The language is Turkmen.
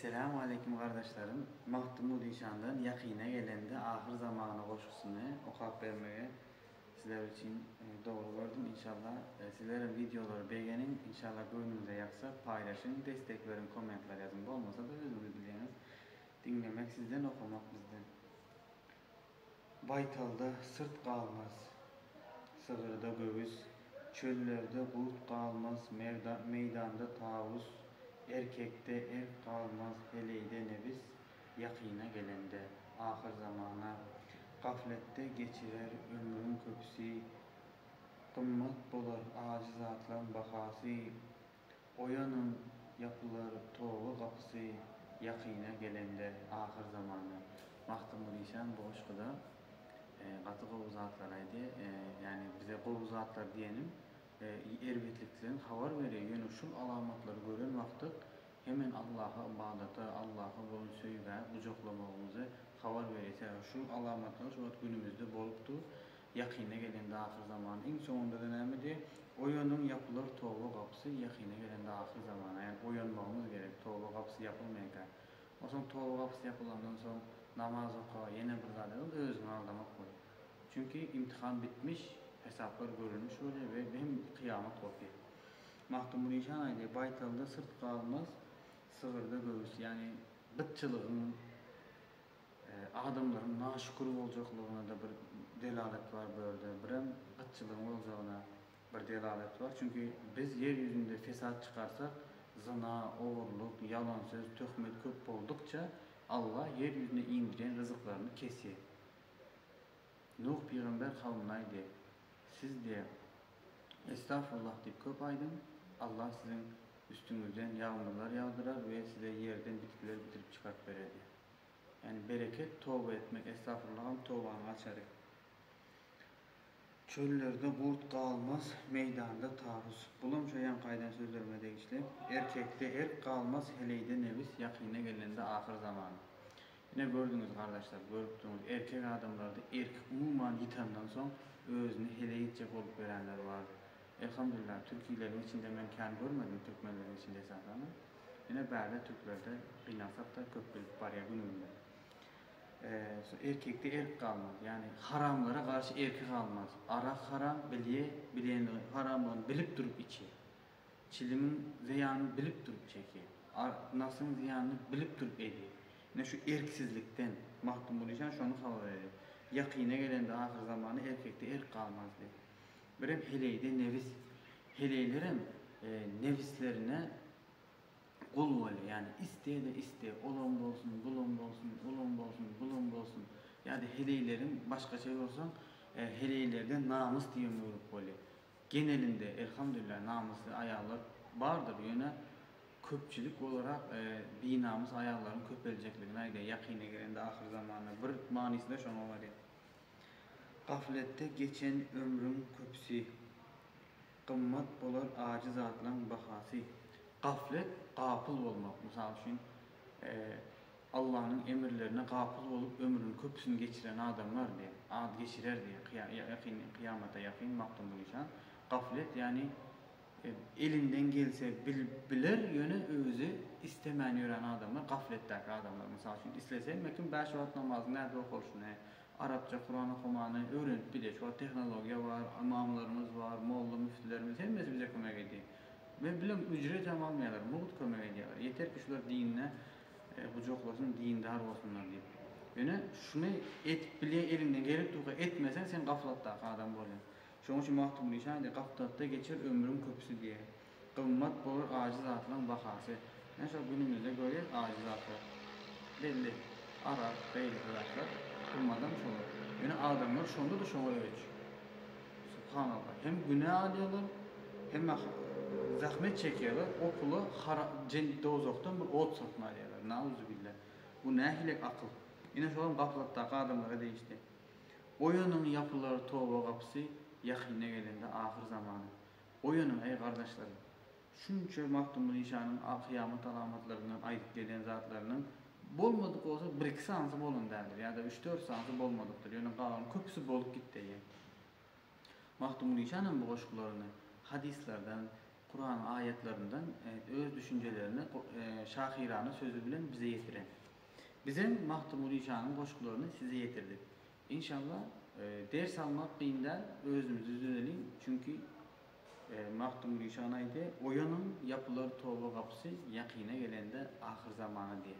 Esselamu aleýkum gardaşlarym Magtymguly Zişandan Ýakyna gelende ahyr zamana goşgusyny okap bermegi sizler üçin dogry gördüm inşallah sizlerem wideolary begeniň inşallah göwnüňize ýaksa paýlaşyň destek beriň kommentler ýazyň bolmasada özüňiz bilýäňiz diňlemek sizden okamak bizden Baýtalda syrt galmaz, sygyrda göwüs, Çöllerde gut galmaz, meýdanda tawus, Erkekde erk galmaz, heleýde nebis, Ýakyna gelende, ahyr zamana, Gafletde geçirer ömrüň köpüsi, Gymmat bolar ajy zatlaň bahasy, Oýanyň, ýapylar toba gapysy ýakyna gelende ahyr zamana. Magtymguly işan bu goşguda gaty gowy zatlar aýdy. Ýani bize gowy zatlar diýeniň erbetlikden habar berýä. Ýöne şul alamatlary gören wagtyk hemen Allaha ybadata, Allaha bolan söýgä gujaklamagymyzy habar berýä. Sebäbi şul alamatlar şu wagt günümizde bolup dur. Ýakyna gelende ahyr zaman iň soňundada nämedi? Oýanyň ýapylar toba gapysy ýakyna gelende ahyr zamana ýani oýanmagymyz gerek toba gapysy ýapylmaýanka onsoň toba gapysy ýapylandan soň namaz oka ýene bir zada gyl özüňi aldamak bol çünki imtihan bitmiş hesaplar görülmiş bolýa we hem kyýamat gopýa Magtymgulyşan aýdýa baýtalda syrt galmaz sygyrda göwüs ýani gytçylygyň Adamlaryň naşükür boljaklygyna-da bir delalet bar bu ýerde, birem gytçylygyň boljagyna bir delalet bar. Çünki biz ýer ýüzünde fesat çykarsak, zyna, ogurlyk, ýalan söz, töhmet köp boldukça, Allah ýer ýüzüne indirýän ryzyklaryny kesýär. Nuh pygamber kawumyna aýdýar, Siz, diýýär, Estagfurullah diýip köp aýdyň, Allah siziň üstüňizden ýagmyrlar ýagdyrar we size ýerden bitkiler bitirip çykaryp berer diýýär. Ýani bereket toba etmek estagfurullah hem tobanyň açary. Çöllerde gurt galmaz, meýdanda tarus. Bulam şo ýaňky aýdan sözlerime degişli. Erkekde erk galmaz, heleýde nebis ýakyna gelende ahyr zaman. Ine gördüňiz gardaşlar, görüp durňyz erkek adamlarda erki umuman ýitandan soň özüni heleýitje bolup ýöränler bar. Elhamdulillah türkileriň içinde men kän görmedim türkmenleriň içinde esasanam ýene bärde türklerde gynansakda köp bilip barýa günümizde şu erkekde erk galmaz ýani haramlara garşy erki galmaz arak haram bilýe bilenligini haramlygyny bilip durup içýe çilimiň zyýanyny bilip durup çekýe nafsyň zyýanyny bilip durup edýe ýene şu erksizlikden mahrum bolýa şony habar berýär ýakyna gelende ahyrzamana erkekde erk galmaz diýip. Birem heleýde nebis. Heleýlerem nebislerine gul bolýar. Ýani iste-de iste, olam bolsun, bulam bolsun, ulam bolsun, bulam bolsun. Ýa-da heleýleriň başgaça ýorsaň, heleýlerde namys diýen bölek bolýar. Genelinde, elhamdülillah, namysly aýallar bardyr, ýöne köpçülik olarak binamys aýallaryň köpeljekligini aýdýar. Ýakyna gelende, ahyr zamanda bir manysy-da şoňa barýar. Gafletde geçen ömrüň köpüsi. Gymmat bolar ajy zatlaň bahasy. Gaflet, gapyl bolmak. Mysal üçin, Allanyň emirlerine gapyl bolup ömrüniň köpüsini geçiren adamlar diýip, ad geçirer diýip, ýakyn, kyýamata ýakyn Magtymguly şa. Gaflet, ýagny Elinden gelse bilip biler ýöne özi istemän ýören adamlar gafletdäki adamlar mysal üçin islese mekim bäş wagt namazyň nädip okalyşyny arapça kuran okamany öwrenip gidýär şu wagt tehnologiýa bar ymamlarymyz bar molla müftilerimiz hemmesi bize kömek edýär men bilem ücret hem almaýarlar mugt kömek edýärler ýeter ki şular dinine gujaklasyn dindar bolsunlar diýip ýöne şuny edip bilýär eliňden gelipdurka etmeseň sen gaflatdaky adam bolýaň Şoň üçin Magtymguly şaýyr Gapdalda geçer ömrüň köpüsi diýýär. Gymmat bolar ajy zatlaň bahasy. Ine şol günümizde görýäs ajy zatlar. Belli, arak, beýleki zatlar. Gymmadam şolar. Ýöne adamlar şonda-da şoňa öýç. Subhanallah. Hem günä alýarlar, hem-ä zähmet çekýärler, o pula hara, jen, dowzahdan bir ot satyn alýarlar. Nauzubilla. Bu nähili akyl? Ine şolam gaplatdaky adamlara degişli. Oýanyň, ýapylar toba gapysy ýakyna gelende ahyr zamana. Oýanyň, eý, gardaşlarym! Şunça Magtymguly işanyň kyýamat alamatlaryndan aýdyp gelýän zatlarynyň bolmadyk bolsa bir-iki sanysy bolan däldir ýa-da üç-dört sanysy bolmadykdyr, ýöne galanyň köpüsi bolup gitdi eýýäm. Magtymguly işanam bu goşgularyny hadyslardan, Kuranyň aýatlaryndan öz düşünjelerini şahyrana sözi bilen bize ýetiren. Bizem Magtymguly janyň goşgularyny size ýetirdik. Inşalla ders almak kyn däl özümizi düzedeliň çünki Magtymguly jan aýdy oýanyň ýapylar toba gapysy ýakyna gelende ahyr zamana diýe.